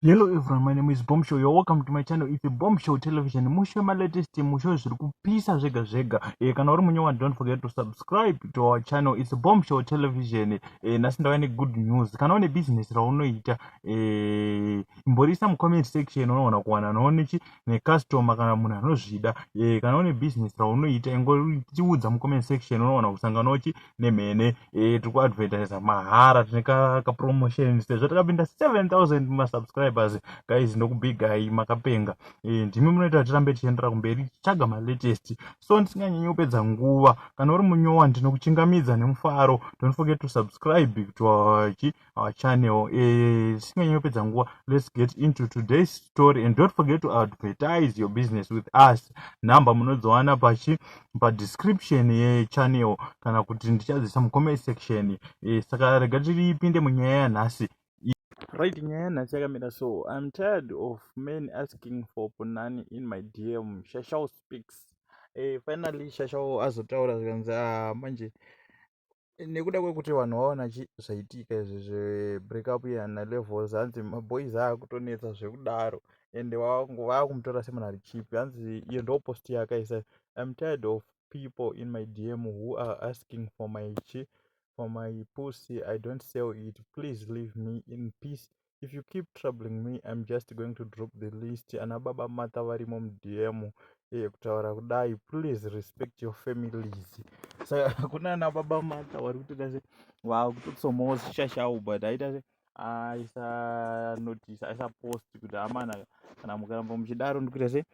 Hello everyone, my name is Bombshow. You're welcome to my channel. It's a Bombshow Television. Mushe ma latest mushe zviri kupisa zvega zvega. Eh, kana uri munyewa don't forget to subscribe to our channel. It's a Bombshow Television. Eh, nasi ndava ne good news. Kana une business raunoita, eh, imborisa mu comment section unoona kuwana noone chi ne customer kana munhu anozvida. Eh, kana une business raunoita ingoritiudza mu comment section unoona kusangana uchi nemhene eh, tiri kuadvertisa mahara tine kapromotion sezvo takapinda 7000 masubscribers guys ndokubigai makapenga eh, ndimi munoita kuti tirambe tichiendera kumberi tichitsvaga malatest so ndisinganyanyi kupedza nguva kana uri munyowa ndinokuchingamidza nemufaro don't forget to subscribe to our our channel eh, tisinganyi kupedza nguva let's get into today's story and don't forget to advertise your business with us number munodziwana pachi padescription yechannel kana kuti ndichadzisa mucomment section eh, saka rega tiripinde munyaya yanhasi right nyaya yanhasi yakamira so iam tired of men asking for punani in my dm shashao speaks eh, finally shashao azotaura zvikanzi ah, manje nekuda kwekuti vanhu vaona zvaitika izvi zvebreak up yana levels hanzi maboys akutonetsa zvekudaro ende vakumutora semunhu ari chipi hanzi iyo ndo post yakaisa im tired of people in my dm who are asking for my chi for my pussy i don't sell it please leave me in peace if you keep troubling me im just going to drop the list ana baba mata varimo mudm eye kutaura kudai please respect your families saka hakuna ana baba mata wari kutoita se vakutotsomawo shashawo but aita se aisa notice aisa post kuti amana kana mukaramba muchidaro ndikuita se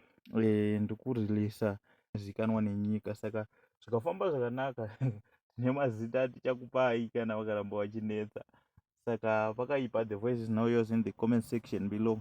eh, ndikureleasa zikanwa nenyika saka zvikafamba zvakanaka nemazita atichakupai kana vakaramba vachinetsa saka pakaipa the voice is now yours in the comment section below.